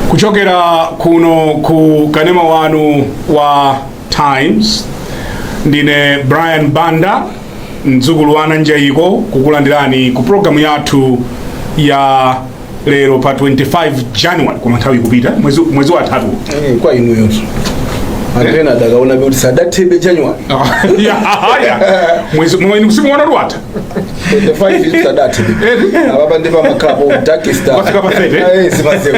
kuchokera kuno ku kanema wanu wa times ndine brian banda mdzukulu wa anaNjayiko kukulandirani ku programu yathu ya lero pa 25 january koma nthawi ikupita mwezi, mwezi watatu Eh, kwa inuyonso, anthu ena adakaona kuti sadathebe january Ah, ya, haya. mwezi mwezi nsimu wana ruwata 25 sadathebe Eh. apapa ndi pamakhala po darkest hour. Wafika pa 30. Eh, sipaseku.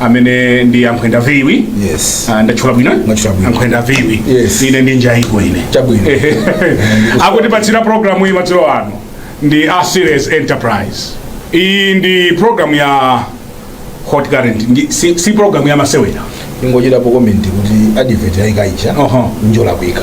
amene ndi ankhwenda viwi yes ah, ndatchula bwino Mwatchula bwino. ankhwenda viwi Yes. ine ndi njayiko ine Chabwino. akutipatsira programu iyi madzulo ano ndi a serious enterprise iyi ndi programu ya hot current ndi, si, si programu ya masewera ingochitapo komenti kuti advert ayaikayi cha Oho. n'zolakwika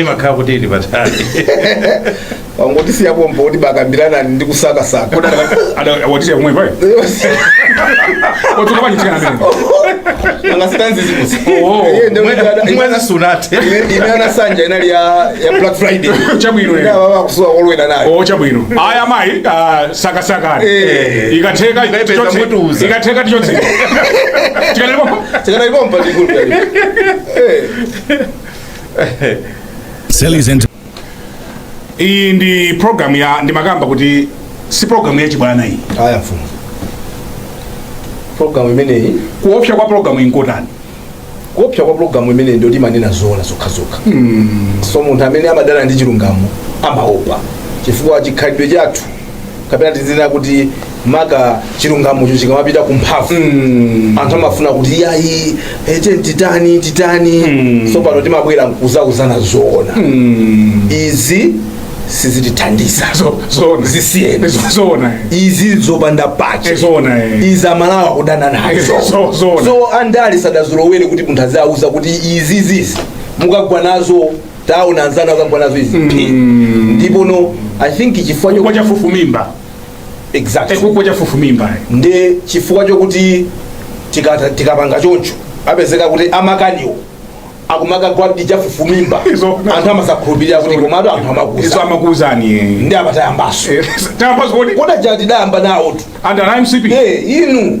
imakhala kuti ili patali wangoti siya pompo kuti bakambiranani ndi kusakasaka kodi watisiya kumwe payo otuka pachitikana mene angasitanzi zikusi Oh, Iye ndio mwena- kuti ana- mwena sunate ine- imene anasanja inali ya ya black friday Chabwino, eh. Ina baba akusuwa kolwera nayo o chabwino aya mayi ah, sakasakani Eh. ikatheka Ipepeta tichotse- mutuza. ikatheka tichotse tikatelepo tikana ipompa tikulu Serious ento iyi ndi program ya ndimakamba kuti si program ya chibwana iyi aya mfumu programu imeneyi kuopsa kwa program iyi nkotani kuopsa kwa programu imeneyi ndiyoti imanena zoona zokhazokha so munthu amene amadana ndi chilungamo amaopa chifukwa chikhalidwe chathu kapena tizinena kuti maka chilungamocho chikamapita ku mphamvu Mm. anthu amafuna kuti yayi ete titani titani Mm. so pano timabwera nkuzauzana zoona Mm. izi sizitithandiza Zo- zoona. zisiyeni Zo- zoona eh. izi zopanda Eh, pache zoona eh. izi amalawi kudana nazo Zo- zoona. so andali sadazolowere kuti munthu azawauza kuti izi izizi mukagwa nazo taona anzanu akagwa nazo izi phi ndipo no i think chifukwa chifukwa cha chafufumimba exactly chifukwa chafufumimba ndi chifukwa chokuti tikata- tikapanga choncho apezeka kuti amakaniwo akumakagwa ndi chafufumimba Izo- anthu amazakhulupirira kuti komatu anthu izo amakuza amakuuzani eh. nde amatayambaso Eh, tayambaso kodi koda chatidayamba nawotu under mcp Eh, inu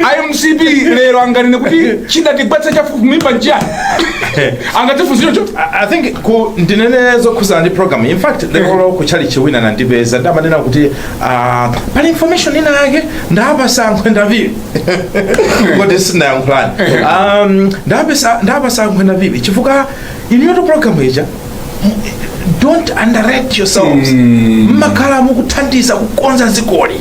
a mcp lero anganene kuti chidatigwetsa chafufumimba nchani angatifunzire cho I I think ku ndinene zokhuzana ndi program in fact lero ku chalichi wina anandipeza nde amanena kuti ah, pali information ina yake ndapasa ankhwenda viwi kodi sinayankhulani Um, ndapesa- ndapasa ankhwenda viwi chifukwa inuyo program ija don't underrate yourselves mmakhala mukuthandiza kukonza dzikoli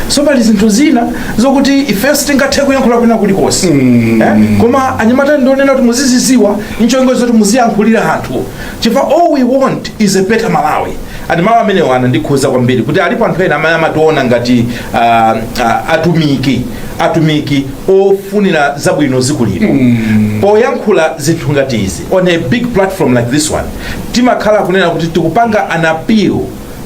so pali zinthu zina zokuti ife sitingathe kuyankhula kwina kulikonse eh? koma anyamata ndionena kuti muziziziwa ncholinga zoti muziyankhulira anthu chifukwa all we want is a better malawi and mawu amenewo anandikhuza kwambiri kuti alipo anthu ena amene amationa ngati uh, uh, atumiki atumiki ofunira zabwino dziko lino poyankhula zinthu ngati izi on a big platform like this one timakhala kunena kuti tikupanga an appeal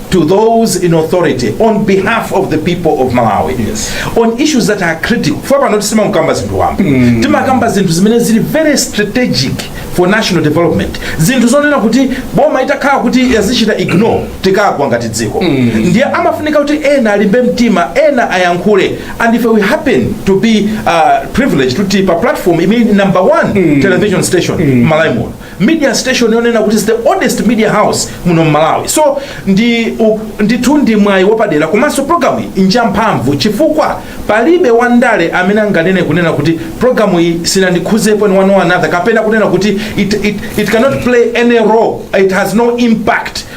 to those in authority on behalf of the people of malawi Yes. on issues that are critical chifukwa pano sitimangokamba zinthu wamba timakamba zinthu zimene zili very strategic for national development zinthu zonena kuti boma itakhala kuti yazichita ignore tikagwa ngati dziko ndiye amafunika kuti ena alimbe mtima ena ayankhule and if we happen to be uh, privileged kuti tili pa platform imene number one mm. television station mm. malawi muno media station yonena kuti is the oldest media house muno mmalawi so ndi u, ndithu ndi mwayi wapadera komanso programu iyi nja mphamvu chifukwa palibe wandale amene anganene kunena kuti programu iyi sinandikhuzepo in one or another kapena kunena kuti it, it, it cannot play any role it has no impact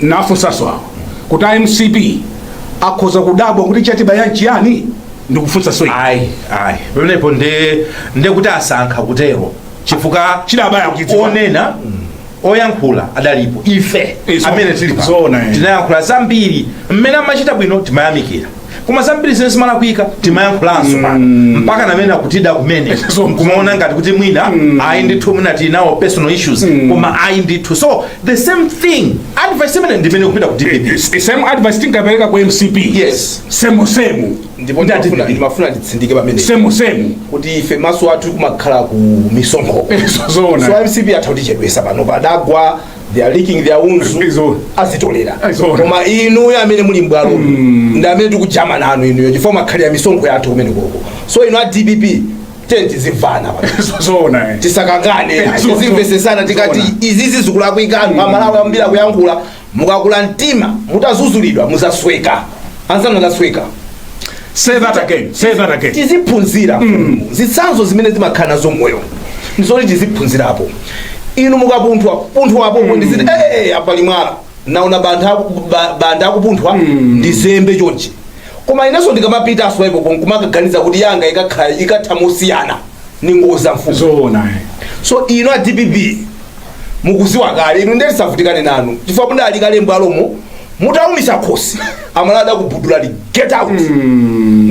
nafunsanso awa kuti a mcp akhoza kudabwa kuti chatibaya nchiyani ndikufunsanso iwe. ayi ayi pamenepo nde nde kuti asankha kutero chifukwa Chidawabaya akuchidziwa. onena oyankhula adalipo ife Izo. amene tili pano Zoona, eh. tinayankhula zambiri mmene amachita bwino timayamikira koma zambiri zimene zimalakwika timayankhulanso pano mpaka namene akutida kumene kumaona ngati kuti mwina ayi ndithu mwina tili nawo personal issues koma ayi ndithu so the same thing advice imene ndimene ikupita ku dpp same advice tinkapereka ku mcp Yes. same same ndipo Ndi ndimafuna- a dpp. ndimafuna nditsindike pamene same same kuti ife maso athu kumakhala ku misonkho Izo zoona. so mcp atha kutichedwesa panopa adagwa they are licking their wounds Izo. azitolera Izo. koma inuyo amene muli mbwalo Mm. ndi amene tikujama nanu inuyo chifukwa mwakhalira misonkho yathu kumenekoko so inu a dpp tiyeni tizimvana zoona eh. tisakangane Izo. tizimvesesana tikati Zoona. izizi zikulakwika anthu amalawi ambiri akuyankhula mukakula mtima mutazuzulidwa muzasweka anzanu asweka say that again say that again tiziphunzira zitsanzo zimene zimakhala nazo moyo ndizoti tiziphunzirapo inu mukapunthwa punthwapo ndiziti ee apali mwala naona bantha ba- bantha akupunthwa ndizembe chonchi koma inenso ndikamapitanso ipo kumaganiza kuti yanga ikakhala- ikatha mosiyana ningodza mfumu zoona eh. so inu a dpp mukuziwa kale inu ndetisavutikane nanu chifukwa mudali kale mbwalomo mutaumitsa khosi amalawi adakubulutsani get out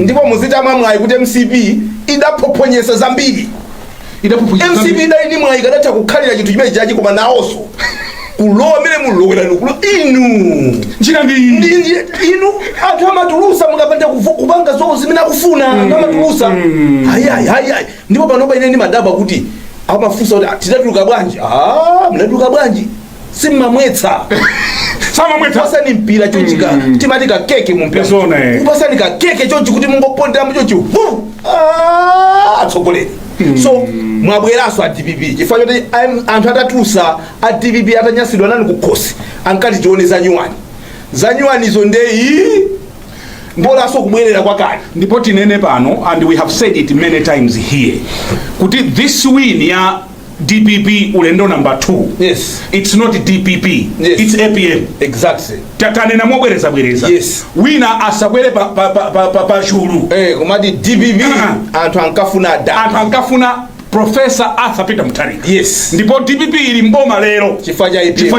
ndipo muzitamwa mwayi kuti mcp idaphophonyesa zambiri Idaphuphunyisa mcp zambiri. idali ndi mwayi kadatha kukhalira chinthu chimene chachi koma nawonso kulowa mmene munalowera mukulo inu Njira ndi iyi. Ndi- ndi- inu anthu amatulusa mukapanda kuvu- kupanga zonse zimene akufuna anthu amatulusa ayiayi ayiayi ndipo panopa ine ndimadabwa kuti amafunsa kuti "Ah, tidatuluka bwanji Ah, mnatuluka bwanji simmamwetsa simmamwetsa pasani mpira chonchi ka timati ka keke mu mpira Zona, eh. pasani ka keke chonchi kuti mungopondera mu chonchi hu Ah, atsogoleri so mwabweranso a dpp chifukwa choti am- anthu atatulusa a dpp atanyasidwa nanu kukhosi ankati tione za nyuwani za nyuwanizo ndeyi mbolanso kubwerera kwakale ndipo tinene pano and we have said it many times here kuti this win ya dpp ulendo number 2 yes. its not dpp yes. its apm exactly. tanena mobwereza bwereza yes. wina asabwere pa, pa, pa, pa, pa, pa chulu hey, eh, kumati dpp uh-huh. anthu ankafuna da anthu ankafuna profesa arthur peter mutharika yes. ndipo dpp ili mboma lero chifukwa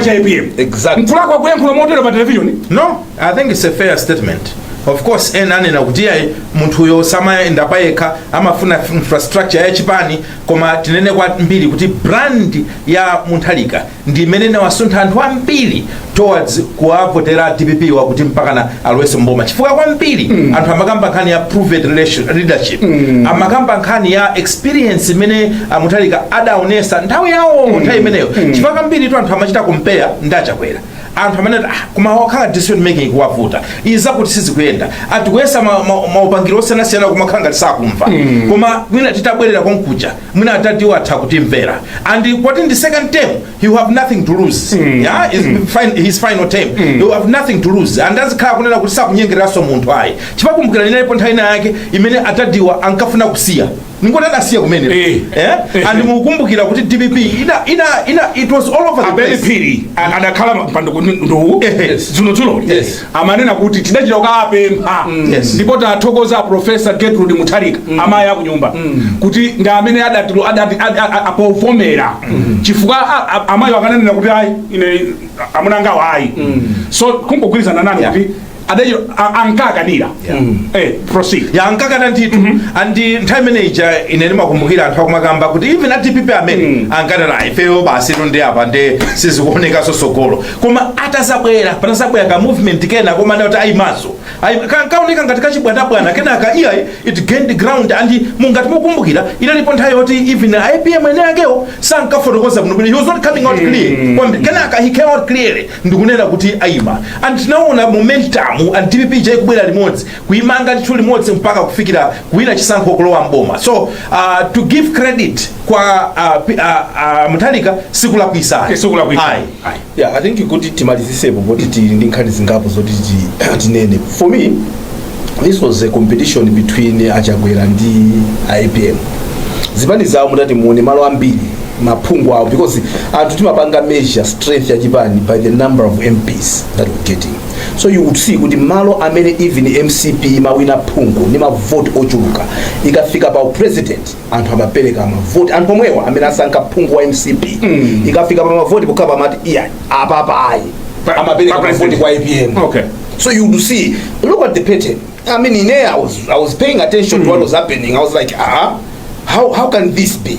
cha apm exactly. mkulakwa kuyankhula motero pa televisioni no i think it's a fair statement of course ena anena kuti ayi munthuyo samayenda payekha amafuna infrastructure ya chipani koma tinene kwambiri kuti brand ya mutharika ndi imene inawasuntha anthu ambiri towards kuwavotera dpp yo kuti mpakana alowese mboma chifukwa kwambiri mm. anthu amakamba nkhani ya proven relation- leadership mm. amakamba nkhani ya experience imene amutharika adaonesa nthawi yawo mm. nthawi imeneyo mm. chifukwa kwambiri tu anthu amachita compare ndi achakwera anthu amene ah, koma yakhala decision making kuwavuta izi zakuti sizikuyenda atayesa ma- ma- maupangiro osiyanasiyana kumakhala ngati sakumva koma mwina titabwerera konkuja mwina adadiwo atha kutimvera and poti ndi second term he will have nothing to lose yeah? His fin- his final term he will have nothing to lose and azikhala kunena kuti sakunyengereranso munthu ayi chipakumbukira linalipo nthawi ina yake imene adadiwa ankafuna kusiya ningoti adasiya kumene Eh. eh? Eh. and mukumbukira kuti dpp ina, ina, ina, it was all over the place ben phiri a- adakhala mpando nduwu Yes. dzulo dzulo Yes. amanena kuti tidachita kukapempha Yes. ndipo tathokoza a profesa gertrude mutharika amayi akunyumba kuti ndi amene adati- adati- ad- a- a- apovomera chifukwa a- a- amayi akananena kuti ayi ine amuna angawo ayi so kungogwirizana nanu Yeah. kuti adachita a- ankakanira Yeah. eh proceed ya ankakana ndithu and nthawi imene ija ine ndimakumbukira anthu akumakamba kuti even a dpp amene Mm. ankanena ifeyo basi ino ndi apa nde sizikuonekanso sogolo koma atazabwera panazabwera ka movement kena koma ndati ayimaso kaoneka ngati kachibwanabwana kenaka iya it gained ground and ngati mukumbukira inalipo nthawi yoti even a apm ene akewo sankafotokoza bwino bwino he was not coming out clear Kwambi- kenaka he came out clearly ndikunena kuti aima and tinaona momentum and dpp ija ikubwera limodzi kuimanga ndithu limodzi mpaka kufikira kuwina chisankho kulowa mboma so uh, to give credit kwa uh, pi- uh, uh, mutharika sikulakwisa Okay, sikulakwisa. Ayi. Ayi. yeah i think kuti timalizisepo poti tili ndi nkhani zingapo zoti ti- tinene for me this was a competition between achakwera ndi apm zipani zawo mutati muone malo ambiri maphungu awo because anthu timapanga measure strength ya chipani by the number of mps that we're getting so you would see kuti malo amene even mcp imawina phungu ndi mavoti ochuluka ikafika pa president anthu amapereka mavoti anthu omwewa amene asankha phungu wa mcp mm. ikafika pa mavoti pokhapa amati iya apapa ayi Pa- amapereka pa mavoti president. kwa apm Okay. so you would see look at the pattern i mean in there i was, I was paying attention to what was happening i was like ah how, how can this be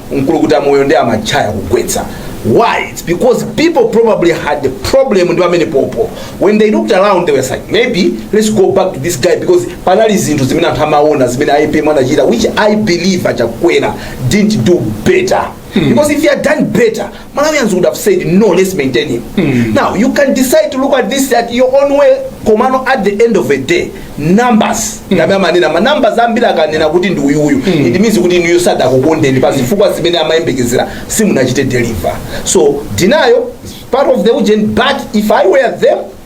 mkulukuta moyo ndi amachaya kugwetsa why it's because people probably had a problem ndi pamene popo when they looked around they were like maybe let's go back to this guy because panali zinthu zimene anthu amaona zimene apm anachita which i believe achakwera didn't do better because if he had done better Malawians would have said no, let's maintain him. Mm. Now you can decide to look at this at your own way. Komano at the end of the day, numbers mm. numbers amanena ma numbers ambiri akanena kuti ndi uyu uyu mm. it means kuti inuyo sadakukondeni pa zifukwa zimene amayembekezera simunachite deliver. So denial is part of the ujeni but if I were them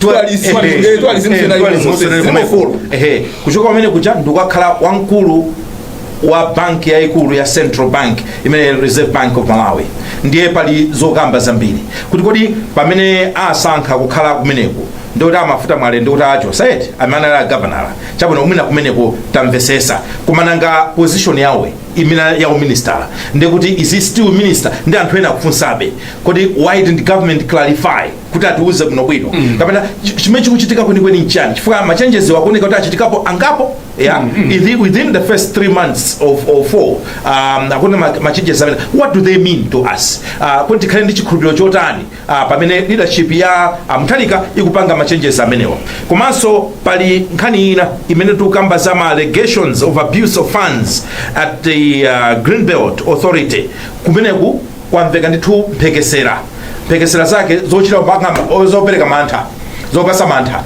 Dualism, Ehe, eh, dualism eh, zina dualism ilimo, zina ilimo. zimefolo. Ehe, kuchoka pamene kuja ndikukakhala wamkulu wa banki yayikulu ya central bank imene reserve bank of malawi ndiye pali zokamba zambiri kuti kodi pamene asankha kukhala kumeneko ndikuti a mafuta mwale ndikuti achotsedwa amene anali agavanala chabwino umina kumeneko tamvesesa koma nanga position yawo imene ya uministala ndikuti is he still minister ndi anthu ena akufunsabe kodi why didn't government clarify kuti atiuze bwinobwino mm. kapena ch- chimene chikuchitika kwenikweni nchani chifukwa ma changes wo akuoneka kuti achitikapo angapo yeah? Ithi- within the first three months of, or four um, akuona ma- ma changes amene what do they mean to us uh, kuti tikhale ndi chikhulupiriro chotani uh, pamene leadership ya uh, mutharika ikupanga ma changes amenewa komanso pali nkhani ina imene tikukamba za ma allegations of abuse of funds at the uh, greenbelt authority kumeneku kwamveka ndithu mphekesera mphekesera zake zochita kupanga o- zopereka mantha zopasa mantha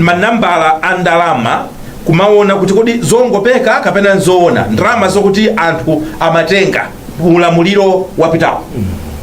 manambala a ndalama kumaona kuti kodi zongopeka kapena nzoona ndalama zokuti anthu amatenga ulamuliro wapitawo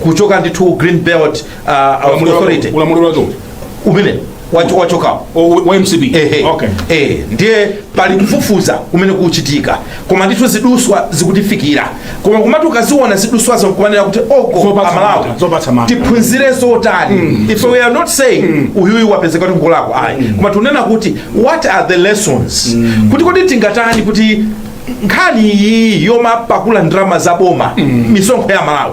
kuchoka ndithu Green Belt ah, ah, Ulamuliro- authority ulamuliro wake uti? umene wacho- wachokawo O- wa- wa MCP Ehe. okay Eh, ndiye pali kufufuza kumene kuchitika koma ndithu ziduswa zikutifikira koma kumati ukaziona ziduswazo nkumanena kuti oko Zopatsa amalawi mantha, zopatsa mantha. tiphunzire zotani if we are not saying uyuyu wapezeka kuti ngolakwa ayi koma tunena kuti what are the lessons kuti kodi tingatani kuti nkhani iyi yomapakula ndalama za boma misonkho ya amalawi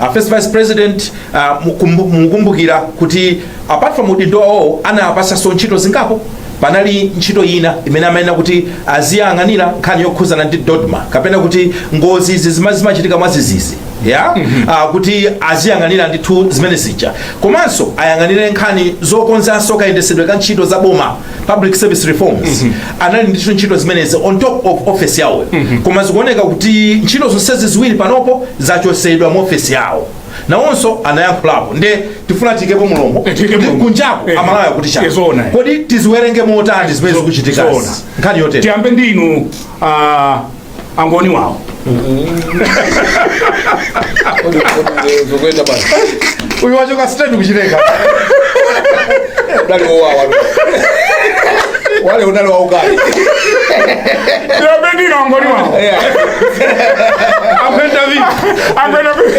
Uh, first vice president uh, mukumbu- mukumbukira kuti apart from udindo wawo anapatsidwanso ntchito zingapo panali ntchito ina imene amayenera kuti aziyang'anira nkhani yokhuzana ndi DoDMA kapena kuti ngozi izi zima- zimachitika mwadzidzidzi ya uh, kuti aziyang'anira ndithu zimene zija komanso ayang'anire nkhani zokonzanso kayendetsedwe ka ntchito za boma public service reforms anali ndithu ntchito zimenezi on top of office yawo koma zikuoneka kuti ntchito zonsezi ziwiri panopo zachosedwa mu office yawo nawonso anayankhulapo nde tifuna tiikepo mlomo Eh, tiikepo mlomo. kunjako Eh, amalawi akuti chani eh, zoona. kodi tiziwerenge motani zimene Zo- zikuchitika zoona. nkhani yotere tiyambe ndinu uh, angoni wawo uyu wachoka state kuchileka wale unali waukali ndinapendina angoni wawo akwenda vipi akwenda vipi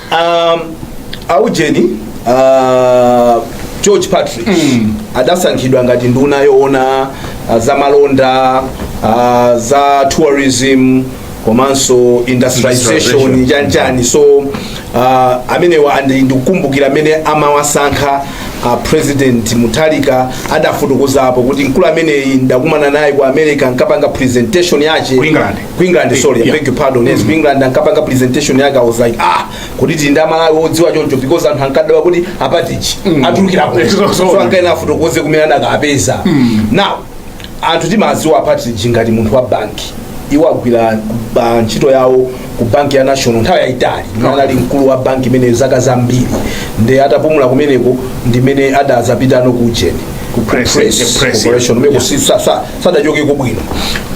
um, aujeni uh, George Partridge mm. adasankhidwa ngati nduna yoona uh, za malonda uh, za tourism komanso industrialization Industrialization. chanchani so uh, amenewa andi- ndikukumbukira mmene amawasankha uh, president Mutharika adafotokozapo kuti mkulu ameneyi ndakumana naye ku America nkapanga presentation yake Ku England. ku england sorry i beg your pardon yes ku england ankapanga presentation yake i was like ah kuti tili ndi amalawi odziwa choncho because anthu ankadabwa kuti a Partridge atulukirapo Yes, so- so- so ankayenera afotokoze kumene anakapeza now anthu timadziwa a Partridge ngati munthu wa banki iwo agwira ba- ntchito yawo ku banki ya national nthawi yayitali imene anali mkulu wa banki imeneyo zaka zambiri nde atapumula kumeneko ndimene adazapitano ku ujeni Ku press, Press, eh, press, corporation yeah. umene kusisa sa sadachokeko bwino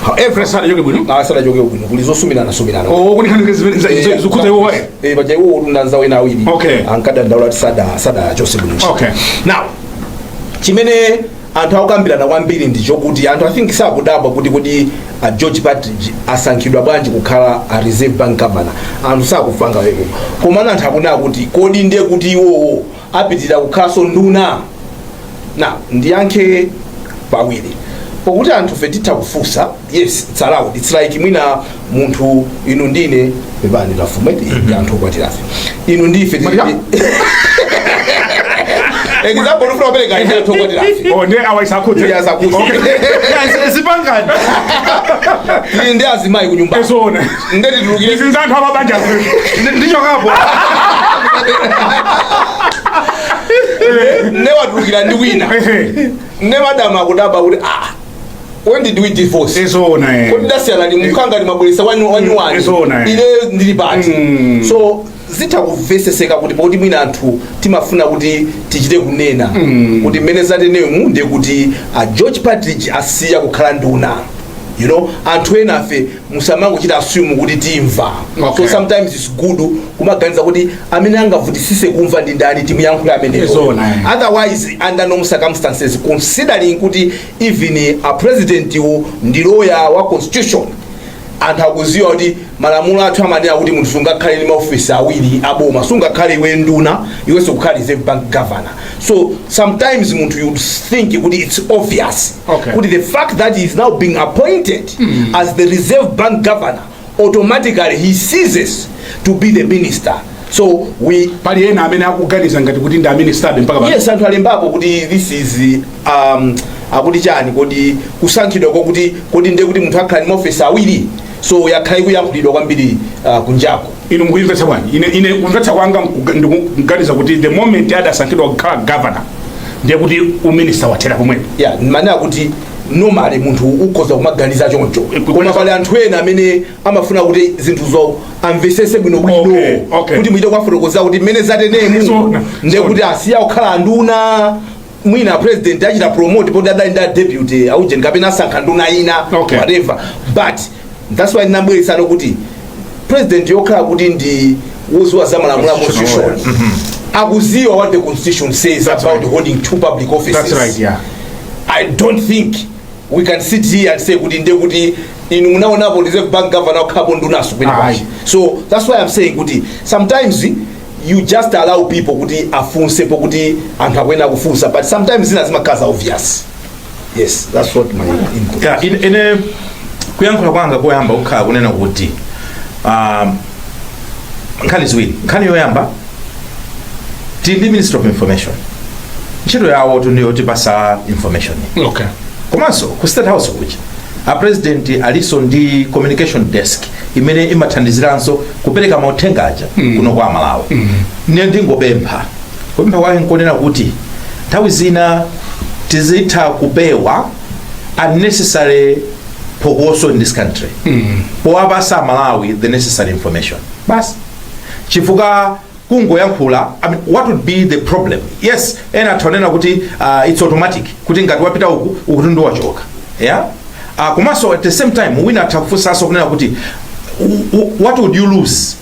however sadachoke bwino ah, sadachokeko bwino kuli zosumirana-sumirana oh kuti nkhani yake zimene za- za- zikuta iwo waye Eh, paja iwo ndi anzawo ena awiri Okay. ankadandaula kuti sada sadachotsedwe bwino Okay. now chimene anthu akukambirana kwambiri ndi chokuti anthu i think sakudabwa kuti kuti a George Partridge asankhidwa bwanji kukhala a Reserve Bank governor anthu sakufanga weko komano anthu akunena kuti kodi ndiye kuti iwowo apitirira kukhalanso nduna na ndiyankhe pawiri pokuti anthufe titha kufunsa yes it's allowed it's like mwina munthu inu ndine pepani tafuna kuti ndi anthu okwatirafe inu ndife tili- Maria. example ufuna kupereka ine anthu okwatirafe Oh, ne awaisakudze. Yes, akudze. Okay. Yes, zipangani. Tili ndi azimayi kunyumba Ezona. nde titulukire izi za anthu amabanja nditchokapo ne watulukira ndi wina ne madamu akudabwa kuti ah when did we divorce izoona kodi tasiyana ndi mukhanga ndi mwabweresa wanyuwani Izoona, eh. ine ndili pati Mm. so zitha kumveseseka kuti poti mwina anthu timafuna kuti tichite kunena kuti mmene zatenemu ndiye kuti a george patrick asiya kukhala nduna you know anthu enafe musamangochita assume kuti timva Okay. so sometimes it's good kumaganiza kuti amene angavutisise kumva ndi ndani timuyankhule ameneyo Zona, eh. otherwise under normal circumstances considering kuti even a president-wo ndi lawyer wa constitution anthu akuziwa kuti malamulo athu amanena kuti munthu sungakhale ndi maofisi awiri aboma sungakhale iwe nduna iwenso kukhala reserve bank governor so sometimes munthu you think kuti it's obvious Okay. kuti the fact that he is now being appointed as the reserve bank governor automatically he ceases to be the minister so we pali ena amene akuganiza ngati kuti ndi a minister-be mpaka pano. yes anthu alembapo kuti this is um, akuti chani kodi kusankhidwa kwake kodi ndiye kuti munthu akhala ndi maofisi awiri so yakhala ikuyankhulidwa kwambiri uh, kunjako inu mukuimvetsa bwanji ine ine kumvetsa kwanga mkuga- ndikuganiza kuti the moment adasankhidwa kukhala governor ndiye kuti uminista wathera pomwepo yeah ndimanena kuti normally munthu ukhoza kumaganiza choncho koma pali anthu ena amene amafuna kuti zinthuzo amvesese bwino bwino Okay, okay. kuti muchite kuwafotokozera kuti mmene zatenemu Zona, ndiye zona. kuti asiya kukhala anduna mwina president achita promote poti adali ndi a deputy aujeni kapena asankha nduna ina Okay. whatever but that's why ndinabweresanso kuti president yokhala kuti ndi woziwa za malamulo a Constitutional constitution akuziwa what the constitution says That's about right. holding two public offices That's right, yeah. I don't think we can sit here and say kuti nde kuti inu munaonapo reserve bank governor wakhalapo ndunaso kwina Ayi. kwake so that's why i'm saying kuti sometimes you just allow people kuti afunse pokuti anthu akuyenera kufunsa but sometimes zina zimakhala za obvious yes that's what my input Yeah, ine, ine kuyankhula kwanga koyamba kukhala kunena kuti um, nkhani ziwiri nkhani yoyamba tili ndi ministry of information ntchito yawotu ndi yotipasa information okay komanso ku state house kuja a president alinso ndi communication desk imene imathandiziranso kupereka mauthenga aja kuno kwa amalawi ndiye ndingopempha kupempha kwake nkonena kuti nthawi zina tizitha kupewa unnecessary phokoso in this country powapasa amalawi the necessary information basi chifukwa kungoyankhula I mean, what would be the problem yes ena atha kunena kuti uh, it's automatic kuti ngati wapita uku ukuti ndi wachoka yeah? uh, komanso at the same time wina atha kufunsanso kunena kuti w- w- what would you lose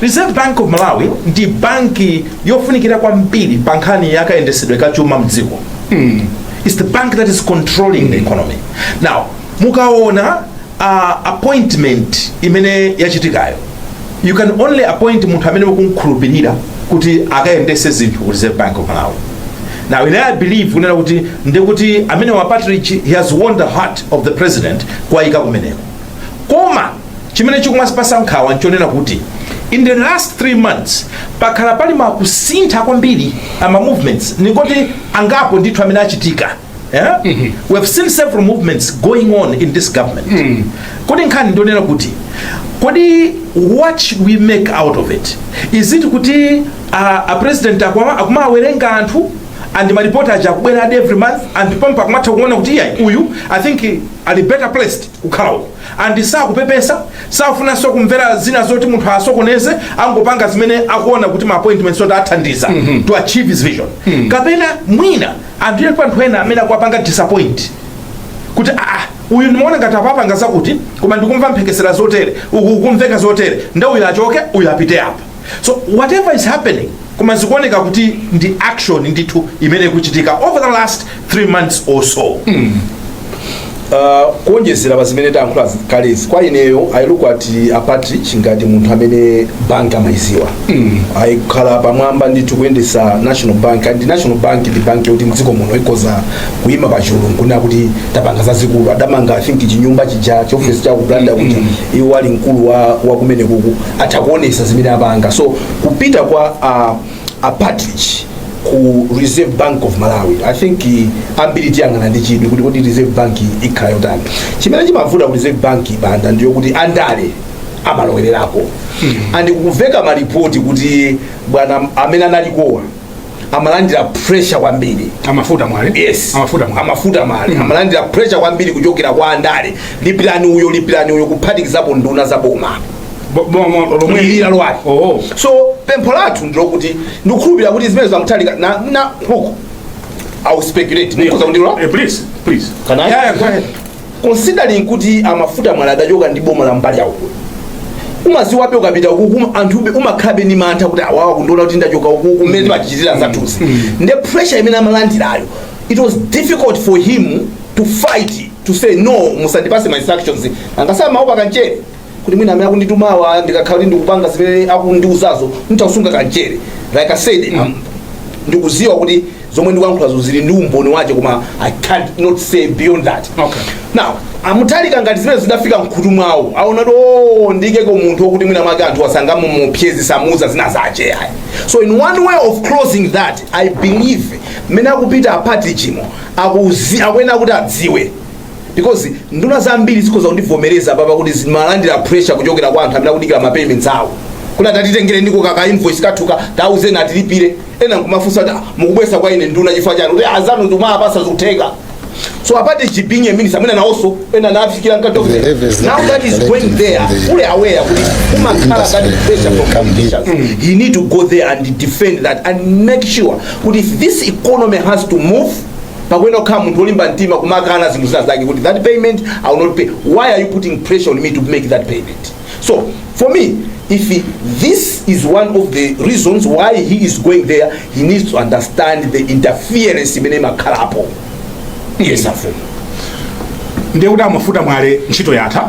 Reserve Bank of Malawi ndi banki yofunikira kwambiri pa nkhani ya kayendetsedwe ka chuma mdziko mm. It's the bank that is controlling mm. the economy now mukaona uh, appointment imene yachitikayo you can only appoint munthu amene mukumkhulupirira kuti akayendese zinthu ku Reserve Bank of Malawi now ine i believe kunena kuti ndikuti amenewa a Partridge he has won the heart of the president kuwayika kumeneko koma chimene chikumatipasa nkhawa nchonena kuti in the last three months pakhala pali makusintha kwambiri ama movements ningoti angapo ndithu amene achitika yeah? mm -hmm. we have seen several movements going on in this government mm. kodi nkhani ndi yonena kuti kodi what should we make out of it is it kuti uh, a president akumawerenga anthu and maripoti aja akubwera every month and pompo akumatha kuona kuti iyayi uyu i think ali better placed kukhala uko and sakupepesa safunanso kumvera zina zoti munthu awasokoneze angopanga zimene akuona kuti ma appointments oti athandiza to achieve his vision kapena mwina alipo anthu ena amene akuwapanga disappoint kuti aa uyu ndimaona ngati apa apanga zakuti koma ndikumva mphekesera zotere kukumveka zotere nde uyu achoke uyu apite apa so whatever is happening koma zikuoneka kuti ndi action ndithu imene ikuchitika over the last three months or so Uh, kuonjezera pa zimene tayankhula kalezi kwa ineyo i look at uh, partridge ngati munthu amene bank amayiziwa mm. ayikhala pamwamba ndithu kuyendesa national bank and national bank ndi bank yoti mdziko muno ikoza kuyima pa chulu nkunena kuti tapanga zazikulu adamanga i think chinyumba chija chiofesi cha ku blantyre kuti iwo ali mkulu wa, wa kumenekuku atha kuonesa zimene apanga so kupita kwa uh, a partridge ku reserve bank of malawi i think eh, ambiri tiyang'ana ndi chidwi kuti kodi reserve bank ikhala yotani chimene chimavuta ku reserve bank banda ndiyokuti andale amalowererako and kumveka malipoti kuti bwana amene analikowa amalandira pressure kwambiri a Mafuta Mwale yes a Mafuta Mwale a Mafuta Mwale amalandira pressure kwambiri kuchokera kwa andale lipirani uyo lipirani uyo kuphatikizapo nduna za boma Bo- bo- mo- lomweli lalowali oh so pempho lathu ndilokuti ndikukhulupirira kuti zimenezi a Mutharika na na look i will speculate mukhoza kundilola Eh, please please Can I? yeah, yeah, go ahead considering kuti a Mafuta Mwale adachoka ndi boma la mbali yawo umaziwabe ukapita ukuku um- anthu ube- umakhabe ndi mantha kuti awawa kundiona kuti ndachoka ukuku mmene timachitira zathuzi nde pressure imene amalandirayo it was difficult for him to fight to say no musandipase ma instructions angasama amaopa kamchere kuti mwina amene akunditumawa ndikakhala kuti ndikupanga zimene akundiuzazo nditha kusunga kamchere like i said um, ndikuziwa kuti zomwe ndikuyankhulazo zili ndi umboni wache koma i cannot say beyond that Okay. now a Mutharika ngati zimene zidafika mkhutu mwawo aona kuti o ndiikeko munthu okuti mwina mwake anthu sangamuopsyeze samuuza zina zache ayi so in one way of closing that i believe mmene akupita a Partridge mo akuzi akuyenera kuti adziwe because nduna zambiri zikhoza kundivomereza papa kuti zimalandira pressure kuchokera kwa anthu amene akudikira ma payments awo kuti ah tatitengereniko kaka invoice kathuka tauzeni atilipire ena nkumafunsa kuti "Ah, mukubwesa kwa ine nduna chifukwa chani kuti azanu ndikumapasa zikutheka so a Partridge being a minister mwina nawonso ena anafikira now that he is going there fully aware kuti kumakhala that pressure from politicians he need to go there and defend that and make sure kuti if this economy has to move pakuyenera kukhala munthu olimba mtima kumakana zinthu zina zake kuti that payment i will not pay why are you putting pressure on me to make that payment so for me if he, this is one of the reasons why he is going there he needs to understand the interference imene imakhalapo yes afumu ndekuti a Mafuta Mwale ntchito yatha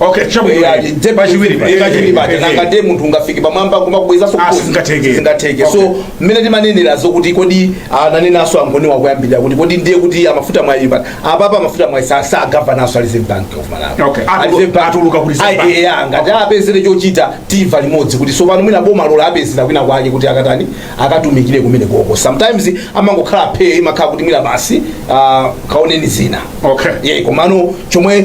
Okay, chabwino. Yeah, ndi- nde- Pachiwiri pa. eh, pachiwiri paja. Eh, eh. Nanga nde munthu ungafike pamwamba kumakubwezaso Ah, sizingatheke. zingatheke Okay. so mmene timanenera zokuti kodi ananenanso a Ngoniwa koyambirira kuti kodi ndiye kuti a Mafuta Mwale pa apapa a Mafuta Mwale sa- si a governor nso a reserve bank of malawi Okay. A Atulu- Reserve Bank- atuluka ku Reserve Bank. Ayi, eh, ah, ngati apezere chochita tiva limodzi kuti sopano mwina boma lawapezera kwina kwake kuti akatani akatumikire kumene koko sometimes amangokhala phe imakhala kuti mwina basi ah, kaoneni zina Okay. yeah, komano chomwe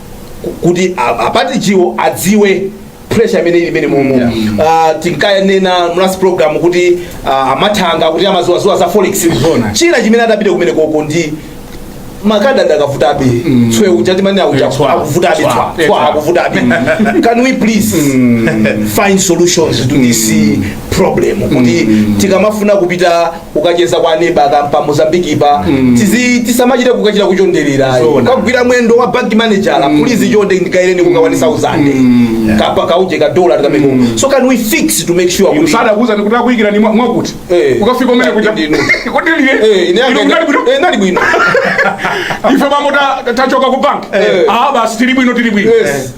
kuti a Partridge wo adziwe pressure imene imene mumu yeah. uh, tinkanena last program kuti uh, a Mathanga kuti amaziwaziwa za forex china chimene adapita kumene koko ndi ma card akuvutabe mm. tswe uchati mani auja akuvutabe tswa tswa akuvutabe can we please mm. find solutions to this problem kuti mm. tikamafuna kupita ukacheza kwa neba akampa mozambique pa mm. tizi tisamachite kukachita kuchonderera Zona. kagwira mwendo wa bank manager mm. please chonde ndikaireni kuka 1000 mm. kapena kauje ka dollar tikameko mm. so can we fix to make sure kuti Msada kuza nikutaka kuikira ni mwa- mwakuti. Eh. Ukafika umene kuja. Ndinu. Kodi liye. eh ine Ino kunali bwino. eh nali bwino Ife bambo ta- tachoka ku bank. Eh. Ah basi tili bwino tili bwino. Yes.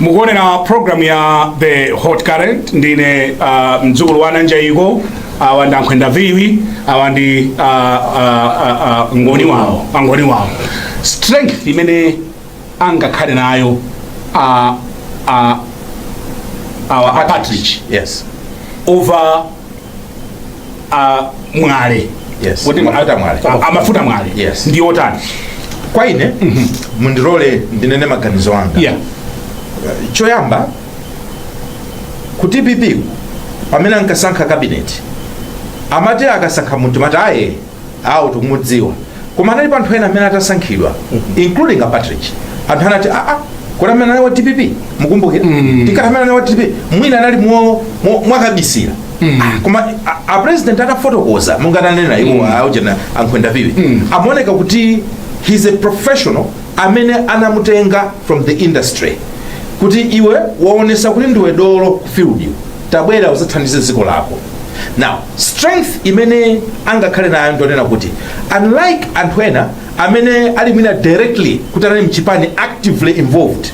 mukuonera program ya the hot current ndine uh, mdzukulu wa nanjaiko awa ndi ankhwenda viwi awa ndi uh, uh, uh, ngoni wawo angoni wawo strength imene angakhale nayo uh, uh, a partridge yes over a mwale Yes. Kodi Mafuta mwale. a- a mafuta mwale Yes. ndi otani kwa ine mundilole ndinene maganizo anga yeah choyamba ku dpp pamene ankasankha kabineti amati akasankha munthu amati aye awo tikumudziwa koma anali pa anthu ena amene atasankhidwa including a partridge anthu anati aa kodi amene anali wa dpp mukumbukira tikati amene anali wa dpp mwina anali mwo- mwo- mwakabisira Ah, koma a- a president atafotokoza monga ananena iwo aujena ankhwenda viwi amaoneka kuti he's a professional amene anamutenga from the industry kuti iwe waonesa kuti ndiwe dolo ku field tabwera uzathandize dziko lako now strength imene angakhale nayo ndonena kuti unlike anthu ena amene ali mwina directly kuti anali mchipani actively involved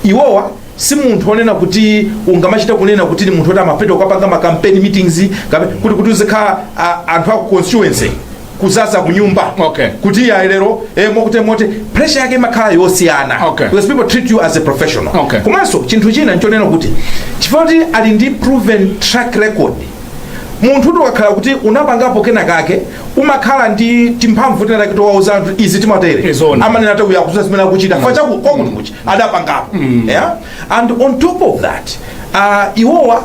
iwowa si munthu onena kuti ungamachita kunena kuti ni munthu oti amapita kukapanga makampeni meetings kape- kuti kuti uzikhala a- anthu aku constituency kuzaza kunyumba Okay. kuti ya lero eh, mokuti moti pressure yake imakhala yosiyana Okay. because people treat you as a professional Okay. komanso chinthu china nchonena kuti chifukwa kuti ali ndi proven track record munthu ukakhala kuti unapangapo kena kake umakhala ndi timphamvu tina take towauza anthu izi timatere Izoni. amanena kuti uyu akudziwa zimene akuchita chifukwa chakuti kwakuti kuchi adapangapo yeah? and on top of that uh, iwowa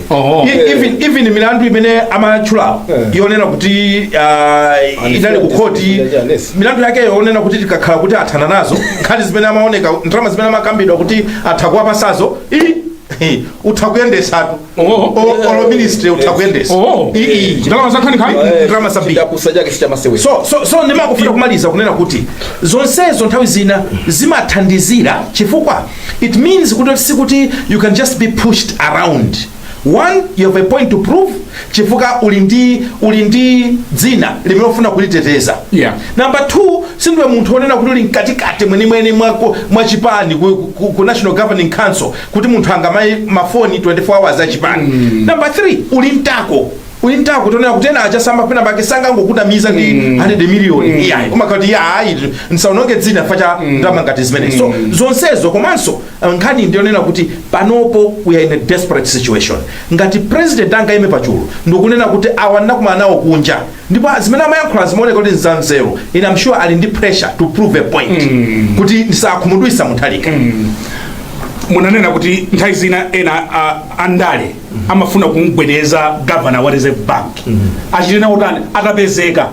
Oho. E- even even milandu imene amatchulawo Eh. yonena kuti ah, inali ku khoti Yes, yes. milandu yake yonena kuti tikakhala kuti athana nazo nkhani zimene amaoneka ndalama zimene amakambidwa kuti atha kuwapasazo i- i- utha kuyendesatu Oho. O- olo ministry utha kuyendesa Oho. I- i- Ndalama za nkhaninkhani? Eh, Ndalama zambiri. chidakusa chake sichamasewera so so so ndimakufuna kumaliza kunena kuti zonsezo nthawi zina zimathandizira chifukwa it means kuti sikuti you can just be pushed around one you have a point to prove chifukwa uli ndi uli ndi dzina limene ufuna kuliteteza Yeah. number two sindiwe munthu wonena kuti uli mkatikati mwenimweni mwako mwachipani ku, ku, ku national governing council kuti munthu angamayimbe mafoni 24 hours achipani mm. number three uli mtako Uli ndi mtima wonena kuti ena achasamba penapake asangokunamiza ndi 100 million iyayi kumakhala kuti iya ayi nsaononge dzina chifukwa cha ndalama ngati zimene so zonsezo komanso uh, nkhani ndiyonena kuti panopo we are in a desperate situation ngati president angaime pachulu ndikunena kuti awa ndinakumana nawo kunja ndipo zimene amayankhula zimaoneka kuti nzanzeru and I'm sure ali ndi pressure to prove a point kuti ndisakhumudwisa Mutharika munanena kuti nthawi zina ena a- andale amafuna kumgwedeza governor wa reserve bank achite naye otani atapezeka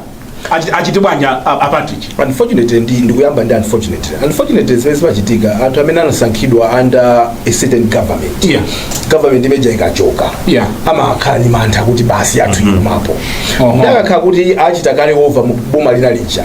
Achi- achite bwanji a- a- a Patrick unfortunately ndi ndikuyamba ndi unfortunately unfortunately zimene zimachitika anthu amene anasankhidwa under a certain government Yeah. government imeja ikachoka Yeah. amakhala ndi mantha kuti basi athu ikumapo Oho. nde akakhala kuti achita kale over mu boma lina lija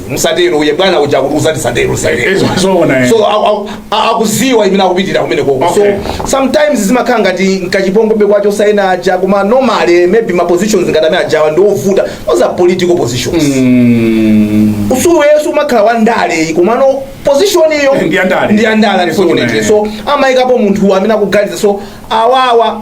musatero uye bwana uja kuti usati satero satero. Izo- zoona, eh. so au- au- a- akuziwa imene akupitira kumene koko Okay. so sometimes zimakhala ngati nkachipongwe kwacho saina aja koma normally maybe ma positions ngati amene ajawa ndi ovuta those are political positions iweyo suumakhala wa ndale ayi komano position iyo Ndi ya ndale. ndi ya ndale Yes, unfortunately una, so amayikapo munthu amene akuganiza so awawa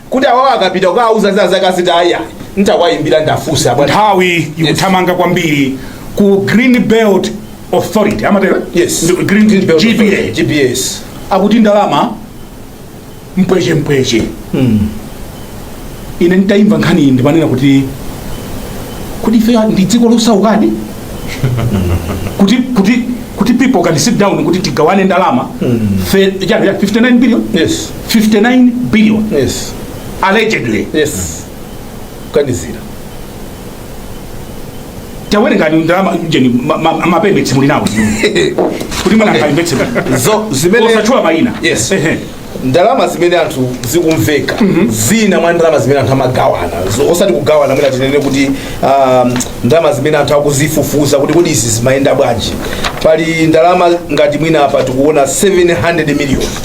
kuti awawa akapita kukawauza zakuti aziti ayi ayi ntawayimbira ndafunsa bwana nthawi ikuthamanga kwambiri ku green belt authority amatero Yes. Ndi- green, Green Belt Authority, GBS akuti ndalama mpweche mpweche ine nditayimva nkhani iyi ndimanena kuti kuti ife ndi dziko losaukadi kuti kuti kuti people can sit down kuti tigawane ndalama Fe- chani, chani, 59 billion yes 59 billion yes allegedly yes kaganizireni tawerengani ndalama ujeni ma- ma- mapepala muli nawo kuti mwina Okay. akaimvetse zo zimene osatchula mayina Yes. Ehe. ndalama zimene anthu zikumveka zina mwa ndalama zimene anthu amagawana Zo- osati kugawana mwina tinene kuti um, ndalama zimene anthu akuzifufuza kuti kodi izi zimayenda bwanji pali ndalama ngati mwina apa tikuona 700 million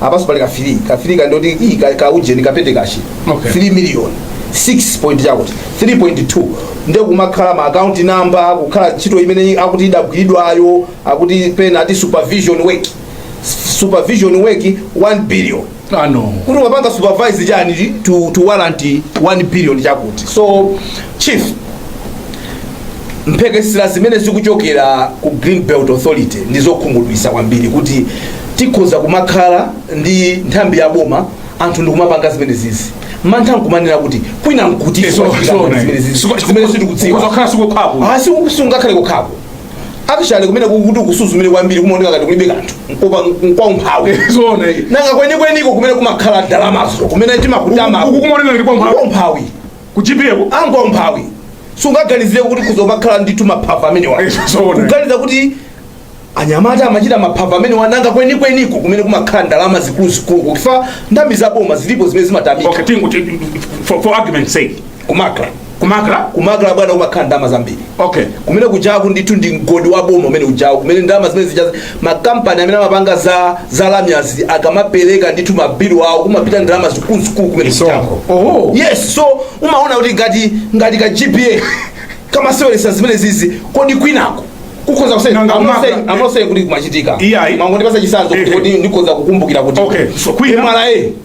apaso pali kafiri kafiri kandoti ii ka- kaujeni ka petty cash Okay. 3 million 6 point chakuti 3.2 nde kumakhala ma account number kukhala ntchito imene akuti idagwiridwayo akuti pena ati supervision work S- supervision work 1 billion ano kuti wapanga supervise chani to, to warrant 1 billion chakuti so chief mphekesera zimene zikuchokera ku green belt authority ndi zokhumudwisa kwambiri kuti tikhoza kumakhala ndi nthambi ya boma anthu ndikumapanga zimene zizi mantha nkumanena kuti kwina nkuti Eh, so- so- zimene zizi so- zimene sitikudziwa Kuzakhala sikukhapo. asi sungakhale kukhapo actually kumene ukati usuzumire kwambiri kumaoneka ngati kulibe kanthu nkopa nkwaumphawi Zona iyi. nanga kwenikweniko kumene kumakhala ndalamazo kumene timakutama Uku- uku kumaoneka ngati kwa umphawi. umphawi kutchipiko ngwa umphawi sungaganizire kuti kuzimakhala ndithu maphava amenewa Eh, zoona. kuganiza kuti anyamata amachita maphava amene wananga kwenikweniko kumene kumakhala ndalama zikuluzikulu kuli nthambi za boma zilipo zimene zimatamika okay tingoti for, for argument's sake kumakla kumakla kumakla bwana kumakhala ndalama zambiri okay kumene kujaku ndithu ndi mgodi wa boma umene ujaku kumene ndalama zimene zijazi makampani amene amapanga za za lamyazi akamapereka ndithu mabilu awo kumapita ndalama zikuluzikulu kumene Misonkho. Oho. yes so umaona kuti ngati ngati ka gpa kamaseweresa zimenezizi kodi kwinako kukhoza kuseka Nanga I'm not maka- saying- I'm not saying kuti kumachitika Iyayi. mungondipasa chisanzo kuti Ehe. kodi ndikhoza kukumbukira kuti Okay, so kwina- MRA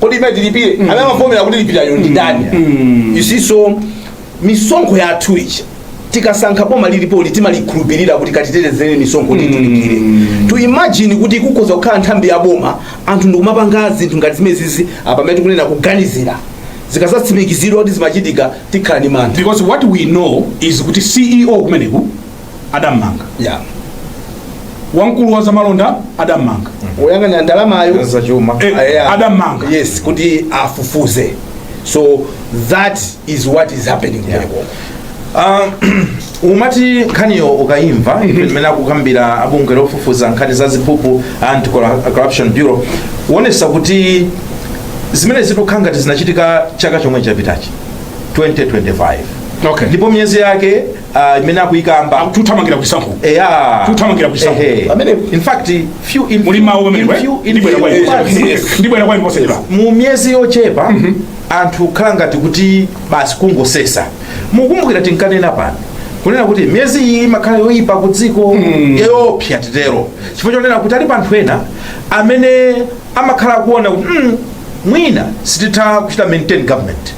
kodi mmene tilipire amene amavomera kuti tilipireyo ndi ndani you see so misonkho yathu ija tikasankha boma lililonse timalikhulupirira kuti katitetezere misonkho kuti tulipire to imagine kuti kukhoza kukhala nthambi ya boma anthu ndikumapanga zinthu ngati zimenezizi apamene tikunena kuganizira zikazatsimikizidwa kuti zimachitika tikhala ndi mantha because what we know is kuti ceo kumeneku adammanga wamkulu wa zamalonda adammanga woyang'anira ndalamayo za chuma Eh, Ah, yeah. adammanga. yes kuti afufuze so that is what is happening Yeah. kumeneko Ah, umati nkhaniyo ukayimva imene akukambira abungwe lofufuza nkhani za ziphuphu anti corruption bureau ukuonesa kuti zimenezi zikukhala ngati zinachitika chaka chomwe chapitachi 2025 okay ndipo miyezi yake ah, imene akuyikamba akuthamangira kusankho eya Kuthamangira kusankho. Ehe. Pamene in fact few in muli mawu in pamene few in ndibwera few kwa months, inu ndibwera kwa inu posachedwa mu miyezi yochepa anthu akhala ngati kuti basi kungosesa mukumbukira tinkanena pano kunena kuti miyezi iyi imakhala yoyipa ku dziko yoopsa titero chifukwa chonena kuti alipo anthu ena amene amakhala akuona kuti mm, mwina sititha kuchita maintain government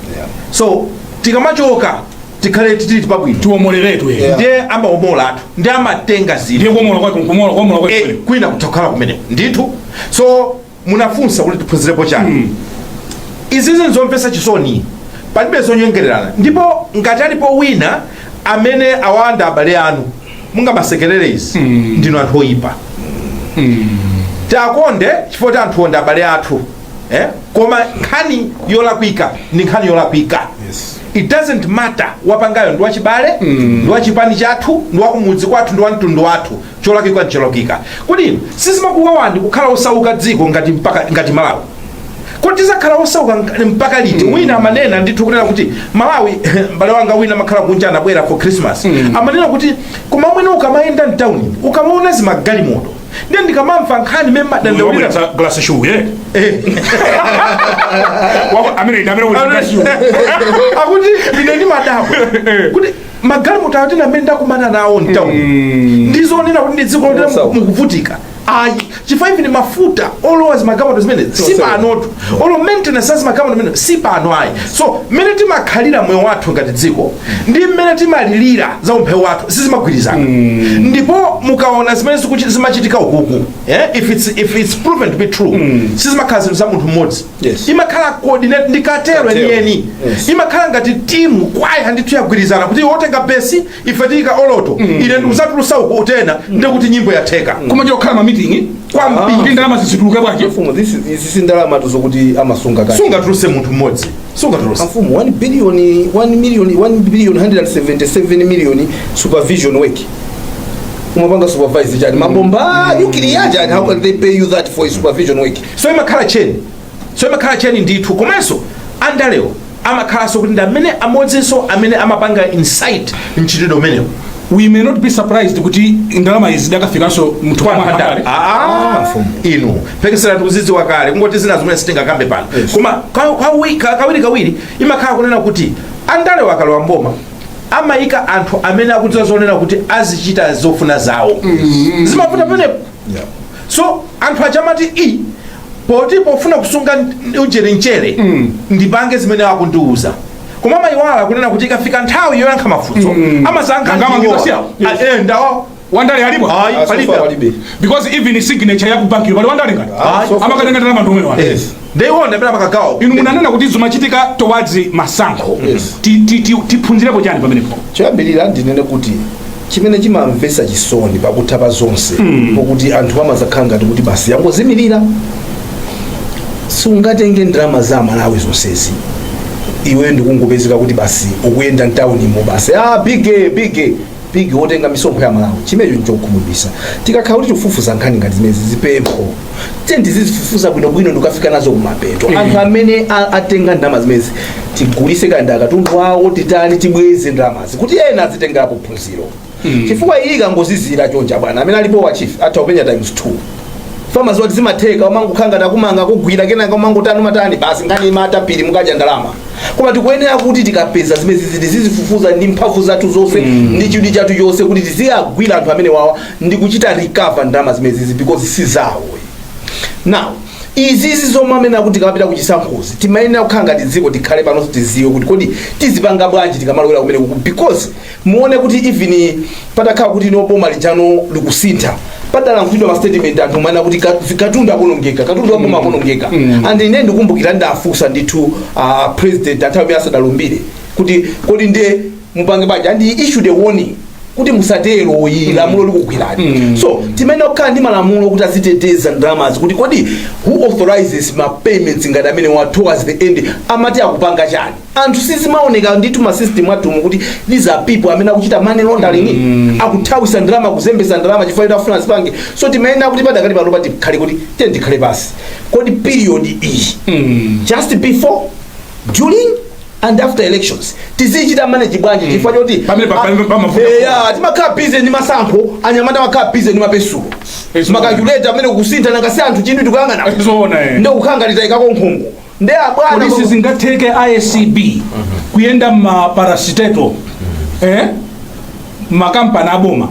so tikamachoka tikhale tili pabwino tiwomoleretu Yeah. ndiye amawomolatu ndiye amatenga zinthu ndiye kuomola kwake kumola kuomola kwake Eh, kwina kutakhala kumeneko ndithu so munafunsa kuti tiphunzirepo chani izizi nzomvetsa chisoni palibe zonyengererana ndipo ngati alipo wina amene awamanga abale anu mukamasekerera izi ndinu anthu oyipa tiwakonde chifukwa anthuwo ndi abale athu eh? koma nkhani yolakwika ndi nkhani yolakwika Yes. it doesn't matter wapangayo ndi wachibale ndi wachipani chathu ndi wakumudzi kwathu ndi wamtundu wathu cholakwika ncholakwika kodi sizimakuwawani kukhala osauka dziko ngati mpaka ngati malawi kodi tizakhala osauka nk- mpaka liti wina amanena ndithu kunena kuti malawi mbale wanga wina amakhala kunja anabwera for christmas amanena kuti koma mwene ukamayenda mtawuni ukamaona zimagalimoto ndiye ndikamamva nkhani imene madandaulira wabweretsa glasi shuye amene ine amene wabweretsa glasi shuye akuti ine ndimadabwa kuti magalimoto ati amene ndakumana nawo mtauni ndi zoona kuti ndi dziko lotera Osauka. mukuvutika ayi chifukwa even mafuta olowa zimagalimoto zimene si Osauka. panotu olo maintenance ya zimagalimoto zimene si pano ayi so mmene timakhalira moyo wathu ngati dziko ndi mmene timalilira za umphawi wathu sizimagwirizana ndipo mukaona zimene zikuchi- zimachitika ukuku eh, if, it's, if it's proven to be true sizimakhala zinthu za munthu mmodzi Yes. imakhala coordinated cartel Cartel. yeniyeni Yes. imakhala ngati timu kwaya ndithu yagwirizana kuti wotenga besi ife tiyika alto ine ndikuzatulusa uku tena ndikuti nyimbo yatheka koma chokhala mamitingi Kwambiri. kuti ndalama izi zituluke bwanji Mfumu, this is- izi si ndalama zokuti amasunga kale sungatuluse munthu mmodzi sungatuluse amfumu 1 billion 1 million 1 billion 177 million supervision work umapanga supervise chani mabomba nuclear chani how can they pay you that for supervision work so imakhala tcheni so imakhala tcheni ndithu komanso andalewo amakhalanso kuti ndi amene amodzinso amene amapanga incite mchitidwe umenewo we may not be surprised kuti ndalama izi zidakafikanso muthumba mwa andale Ah, inu mphekesera tikuzidziwa kale kungoti zina zimene sitingakambe pano koma ka- kawi- ka- kawiri kawiri imakhala kunena kuti andalewo akalowa mboma amayika anthu amene akudziwa zonena kuti azichita zofuna zawo zimavuta penepo so anthu aja amati ii poti pofuna kusunga ujeni mchere ndipange zimene akundiuza koma amayiwala kunena kuti ikafika nthawi yoyankha mafunso amasankha Anga ndiwo. amangidwa siyawo. Ah, eh, ndawo wandale alipo Ayi, Ah, so palibe. far palibe. because even signature ya kubanki pali wandale ngati Ayi, so far. amakatenga ndalama ndi amene wake Yes. I wonder pamene amakagawa. inu munanena kuti zimachitika towards masankho Yes. Ti- ti- ti- tiphunzirepo chani pamenepo choyambirira ndinene kuti chimene chimamvesa chisoni pakutha pa zonse pokuti anthu amazakhala ngati kuti basi yangozimirira sungatenge ndalama za Malawi zonsezi iweyo ndikungopezeka kuti basi ukuyenda mtaunimu basi ah, big big big wotenga misonkho ya Malawi chimenecho nchokhumudwisa tikakhala kuti tikufufuza nkhani ngati zimenezi pempho tiye tizizifufuza bwinobwino ndikafika nazo kumapeto anthu amene a- atenga ndalama zimenezi tigulise kaya ndi akatundu awo titani tibweze ndalamazi kuti ena azitengerapo phunziro chifukwa iyi ikangozizira chonchi bwana amene alipo wa chief atha kupenya times 2 chifukwa aziti zimatheka umangokhala ngati akumanga akugwira kenaka umangotani umatani basi nkhani yatha pita mukadya ndalama koma tikuyenera kuti tikapeza zimenezizi tizizifufuza ndi mphamvu zathu zonse ndi chidwi chathu chonse kuti tiziyagwira anthu amenewawa ndi kuchita recover ndalama zimenezizi because si zawo now izizi zomwe amene akuti tikapita kuchisankhozi timayenera kukhala ngati dziko tikhale pano tiziwe kuti kodi tizipanga bwanji tikamalowera kumenekuku because muone kuti even patakhala kuti no boma lijano likusintha padalankhulidwa mastatement anthu amanena kuti ka- katundu akuonongeka katundu wa boma akuonongeka and ine ndikumbukira ndafunsa ndithu uh, president nthawi imene asadalumbire kuti kodi nde mupange bwanji and he issued a warning kuti musatero ayi lamulo likugwirani so timayenera kukhala ndi malamulo kuti aziteteza ndalamazi kuti kodi who authorizes ma payments ngati amenewa towards the end amati akupanga chani anthu sizimaoneka ndithu mma system athumu kuti these are people amene akuchita money laundering mm. akuthawisa ndalama kuzembesa ndalama chifukwa kuti afuna zipange so timayenera kuti padakali panopa tikhale kuti tiye tikhale pansi kodi period iyi mm. just before during and after elections tizichita manage bwanji chifukwa choti Pamene pa- pamene pamavuta. Eh, ya, timakhala busy ndi masankho anyamata amakhala busy ndi mapensulo Yes, makalkuleta amene kusintha nanga si anthu chinthu tikuyang'ana zoona eh. ndiye kukhala ngati taikako nkhungu nde abwana kodi sizingatheke acb kuyenda mma parastatal eh? makampani aboma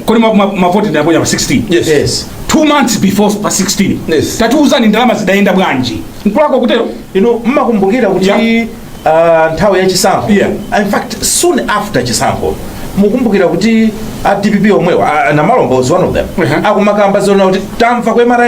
kodi ma- ma- mavoti tidaponya pa 16 Yes. yes two months before pa 16 Yes. tatiuzani ndalama zidayenda bwanji nkulakwa kutero inu mukukumbukira kuti Yeah. ah, nthawi ya chisankho Yeah. in fact soon after chisankho mukumbukira kuti a dpp omwewa ah, namalomba was one of them Uh-huh. akumakamba zonena kuti tamva ku mra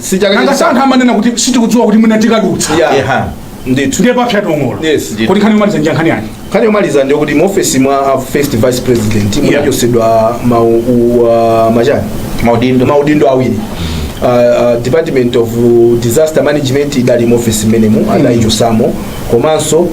Si chaka nanga chino. si anthu amanena kuti sitikudziwa kuti mwina tikadutsa Yeah. Eha. Ndithu. ndiye papsa tonola Yes, ndithu. kuti nkhani yomaliza ndi nkhani yanji Nkhani yomaliza ndi yakuti mu office mwa a first vice president munachosedwa ma u- wa- machani Maudindo. maudindo awiri Uh, uh, department of disaster management idali mu office mmenemo adaichosamo komanso uh,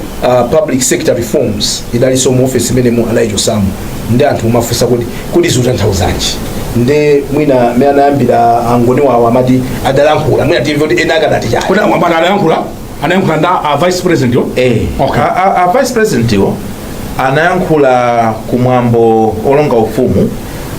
public sector reforms idalinso mu office mmenemo adaichosamo nde anthu akumafunsa kuti kodi zikutanthauzanji nde mwina amene anayambira angoni wawo amati adalankhula mwina timve kuti ena akadati chani kuti amwambana anayankhula anayankhula ndi a vice president yo Eh. okay A- a- a vice president yo anayankhula kumwambo olonga ufumu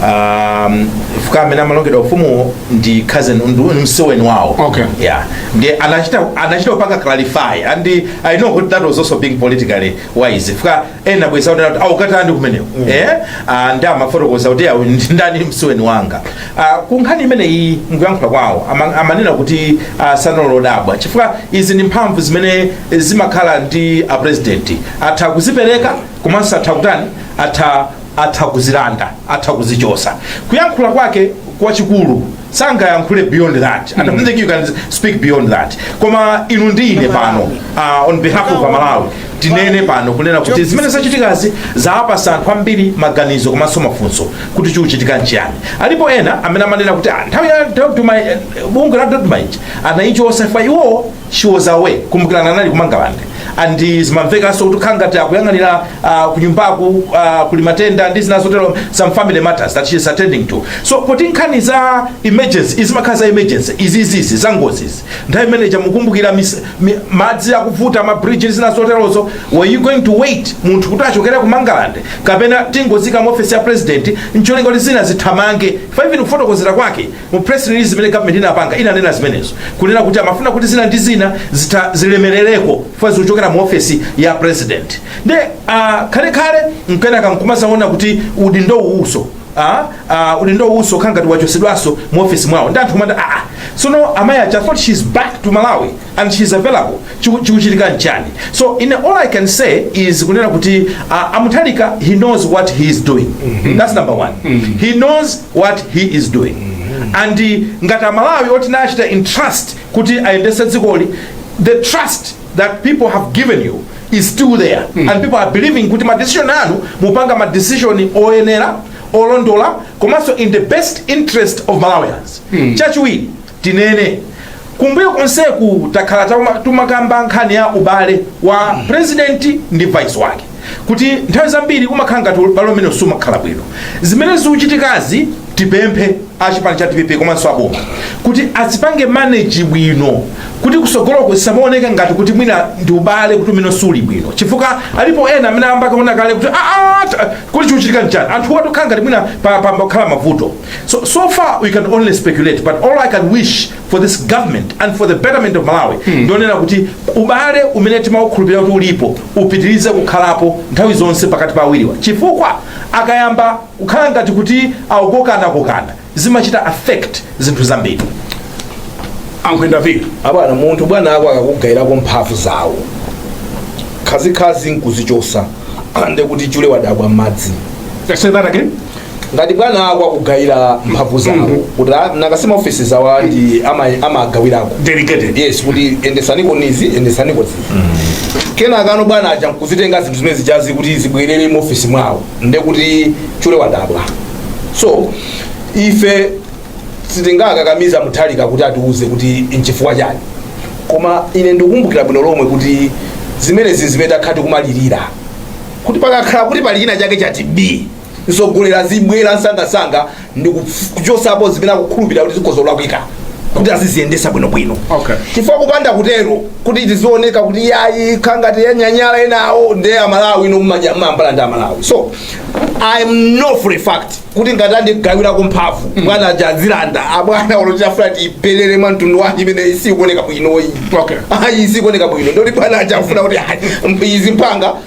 um, chifukwa amene amalongedwa ufumuwo ndi cousin ndi- ndi msuweni wawo Okay. yeah ndiye anachita anachita kupanga clarify and i know kuti that was also being politically wise chifukwa ena bwenzi akuti ati, akukatani kumeneko eh ah, nde amafotokoza kuti awa ndi ndani msuweni wanga ah, ku nkhani imeneyi mkuyankhula kwawo ama- amanena kuti ah, sanali odabwa chifukwa izi ndi mphamvu zimene zimakhala ndi a president atha kuzipereka komanso atha kutani atha atha kuzilanda atha kuzichosa kuyankhula kwake kwachikulu sangayankhule beyond that and I don't think you can speak beyond that koma inu ndi ine pano uh, on behalf of amalawi tinene pano kunena kuti zimene zachitikazi zawapasa anthu ambiri maganizo komanso mafunso kuti chikuchitika nchiyani alipo ena amene amanena kuti "Ah, nthawi ya dr Mai- eh, bungwe la dodma anayichotsa iwowo she was away kumbukirani anali kumangalande and zimamvekanso kuti khala ngati akuyang'anira uh, kunyumbaku uh, kuli matenda ndi zina zotero some family matters that she is attending to so poti nkhani za emergency izimakhala za emergency izizizi za ngozizi nthawi imeneja mukumbukira mis- mi- madzi akuvuta mabridge ndi zina zoterozo were you going to wait munthu kuti achokere kumangalande kapena tingozika mu office ya president ncholinga kuti zinthu zithamange fa even kufotokozera kwake Mu press release zimene government inapanga inanena zimenezo kunena kuti amafuna kuti zina ndi zina zitha zilemerereko chifukwa zikuchokera mu ofesi ya president nde uh, khalekhale kenaka nkumazaona kuti udindo uwuso Ah, ah, udindo uwuso khangati wachosedwaso mu ofesi mwawo ndi anthu kumanda aa so amayi aja, I thought she's back to malawi and she is available Chiku- chikuchitika nchani so all i can say is kunena kuti uh, amuthalika he knows what he is doing that's number one he knows what he is doing and uh, ngati amalawi oti anachita entrust kuti ayendese dzikoli the trust that people have given you is still there and people are believing kuti madecision amene mupanga madecision oyenera olondola komanso in the best interest of malawians chachiwiri tinene kumbuyo konseku takhala tauma- tumakamba nkhani ya ubale wa president ndi vice wake kuti nthawi zambiri umakhala ngati ubale umene sumakhala bwino zimene zikuchitikazi tipemphe achipani cha dpp komanso aboma kuti azipange manage bwino kuti kusogoloko zisamaoneke ngati kuti mwina ndi ubale kuti umene suli bwino chifukwa alipo ena amene ayamba kuona kale kuti "Ah, ah, ta- kuti chikuchitika nchani anthu atokhala ngati mwina pa- pa- pakhala mavuto So, so far we can only speculate but all I can wish for this government and for the betterment of Malawi ndi onena kuti ubale umene timaukhulupirira kuti ulipo upitirize kukhalapo nthawi zonse pakati pa awiriwa chifukwa akayamba kukhala ngati kuti akukokana kokana zimachita affect zinthu zambiri ankhwenda vili uli abwana munthu bwana ako akakugayirako mphamvu zawo khazikhazi nkuzichosa ande kuti chule wadabwa m'madzi say that again ngati bwana ako akugayira mphamvu zawo kuti ah, nawonso ma ofisi zawo ati ama- amagawirako delegated yes kuti endesanikoni izi endesaniko izi kenakano bwana aja nkuzitenga zinthu zimene zijazi kuti zibwerere mu ofisi mwawo nde kuti chule wadabwa so ife sitingakakamize amuthalika kuti atiuze kuti nchifukwa chani koma ine ndikukumbukira bwino lomwe kuti zimenezi zimene takhala tikumalirira kuti pakakhala kuti pali china chake chati b mtsogoleri azibwera msangamsanga ndi kuchosapo zimene akukhulupirira kuti zikhoza kulakwika kuti aziziyendesa bwinobwino Okay. chifukwa kupanda kutero kuti tizioneka kuti yayi ikukhala ngati yanyanyala enawo nde amalawi nomwe mambala ndi amalawi so I know for a fact kuti ngati andigawirako mphamvu bwana aja azilanda abwana olo tiiflatte iperere mwa mtundu wanji imene isikuoneka bwinoyi Okay. ayi isikuoneka bwino ndiye kuti bwana aja afuna kuti ayi, izi mpanga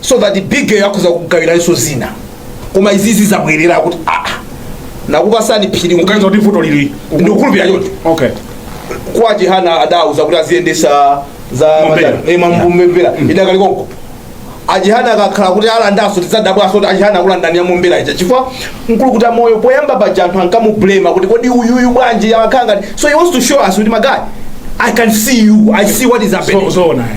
so that big girl akhoza kugawiranso zina koma izizi zabwerera kuti aa Nakupatsani Phiri mukuganiza kuti vuto lili ndikukhulupirira choncho okay Kwa a Chihana adawauza kuti aziyendesa za Mombera. matani- eh, mambu- Mombera idakali konko a Chihana akakhala kuti alandanso tidzadabwanso kuti a Chihana akulandani ya mombera ija chifukwa mkulukuta moyo poyamba paja anthu ankamublema kuti kodi uyuyu bwanji amakhala ngati so he wants to show us kuti my guy i can see you i see what is happening so so naye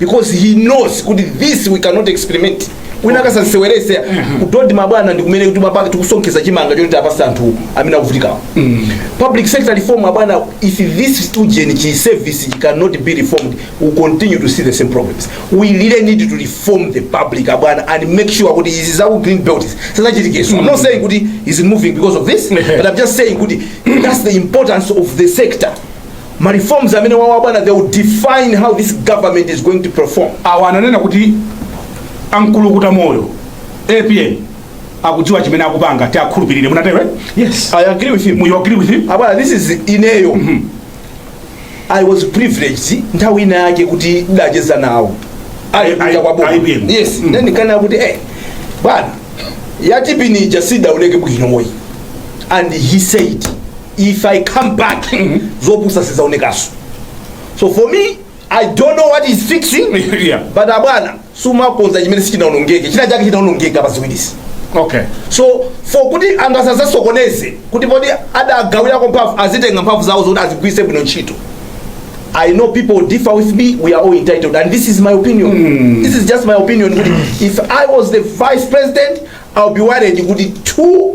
because he knows kuti this we cannot experiment wina asaziseweretse mm-hmm. kuti olo mabwana ndikumene kuti mapaka tikusonkhetsa chimanga choti tapasa anthu amene akuvutikawo mm. public sector reform abwana if this civil service cannot be reformed we will continue to see the same problems we really need to reform the public abwana and make sure kuti izi zaku green belt zisadzachitikenso mm. i'm not mm. saying kuti is moving because of this but i'm just saying kuti that's the importance of the sector Ma reforms amene awa abwana they will define how this government is going to perform. Awa ananena kuti a Mkulukutamoyo APM akudziwa chimene akupanga tiwakhulupirire munatero eh? yes i agree with him you agree with him abwana this is ineyo mm -hmm. i was privileged nthawi ina yake kuti ndidacheza nawo ali kunja kwa boma yes mm -hmm. ndinkanena kuti eh bwana yatipini ija siidauluke bwino moyi and he said if i come back zopusa sizidzaonekanso so for me i don't know what he's fixing Yeah. but abwana sumakonza chimene sichinaonongeke china chake chinaonongeka pa ziwirizi okay so for kuti anthu asadzasokoneze kuti poti adagawirako mphamvu azitenga mphamvu zawo zoti azigwiritse bwino ntchito i know people differ with me we are all entitled and this is my opinion mm. this is just my opinion kuti if i was the vice president i'll be worried kuti two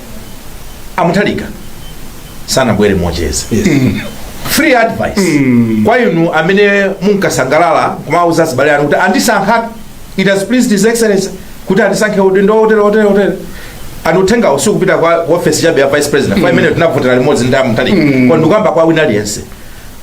a Mutharika sanabwere mocheza free advice kwa inu amene munkasangalala kumauza azibale anu kuti andisankha it has pleased his excellency kuti andisankhe udindo wotere wotere wotere and uthengawo sukupita kwa office chabe ya vice president yeah imene tinavotera limodzi ndi a Mutharika koma ndikukamba kwa wina aliyense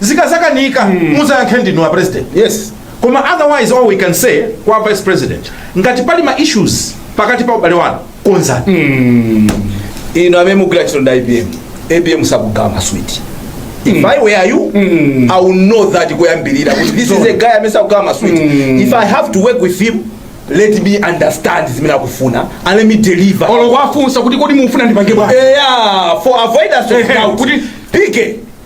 zikazakanika muzayankhe ndinu a president yes koma otherwise all we can say kwa vice president ngati pali ma issues pakati pa ubale wanu konzani inu amene mugwira ntchito ndi apm apm sakugawa maswiti if i were you i would know that kuyambirira kuti this is a guy amene sakugawa maswiti if i have to work with him let me understand zimene akufuna and let me deliver olo kwafunsa kuti kodi mufuna ndipange bwanji eya for avoidance of Ehe, doubt kuti- pike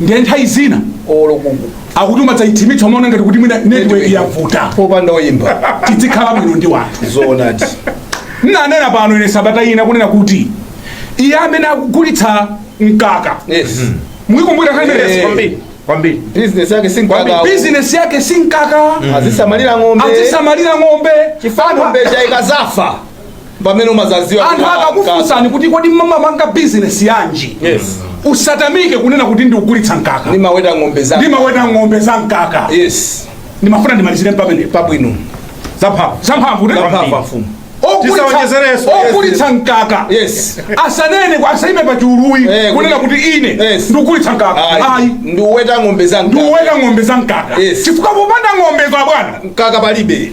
ndiye nthawi zina olo kungu akuti umadzaithimitsa umaona ngati kuti mwina network yavuta popanda oyimba tidzikhala bwino ndi wanthu zoonadi nanena pano ine sabata ina kunena kuti iye amene akugulitsa mkaka yes muikumbukira Eh. khanenso kwambiri kwambiri business yake si mkaka bizinesi yake si mkaka azisamalira ng'ombe azisamalira ng'ombe chifa ng'ombe ija ikazafa pamene umazaziwa anthu akakufunsani kuti kodi mmapanga bizinesi yanji yes usatamike kunena kuti ndikugulitsa mkaka ndimaweta ng'ombe za ndimaweta ng'ombe za mkaka yes ndimafuna ndimalizire pamene pabwino zamphamvu zamphamvu zamphamvu mfumu Tisaonjezereso. ogulitsa mkaka Yes. asanene kwa- asaime pa chiuluyi Eh, kunena kuti ine Yes. ndikugulitsa mkaka ayi ndiuweta ng'ombe za mkaka. ndiuweta ng'ombe za mkaka Yes. chifukwa popanda ng'ombezo abwana mkaka palibe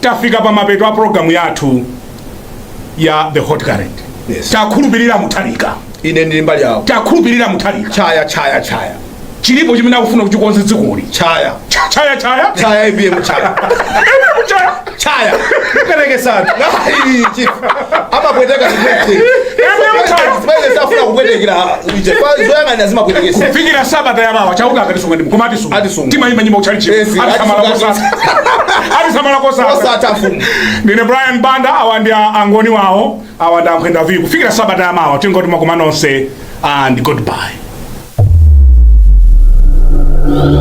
tafika pa mapeto a program yathu ya the hot current Yes. takhulupirira mutharika ine ndili mbali yawo takhulupirira mutharika chaya chaya chaya chilipo chimene akufuna kuchikonza dzikoli chaya Cha- chaya chaya chaya apm chaya chaya chaya perekesani Ai, chief. amapweteka zimene zimene safuna kupwetekera ije zoyang'anira zimapweteketsa kufikira sabata yamawa chauta akatisunga ndi mkoma atisunga ati timayimba nyimbo kuchalichi Ezi, atisamala ati- kosatha atisamala kosatha osatha mfumu ndine brian banda awa ndi a- angoni wawo awa ndi ankhwenda viku kufikira sabata yamawa tingoti makoma nonse and goodbye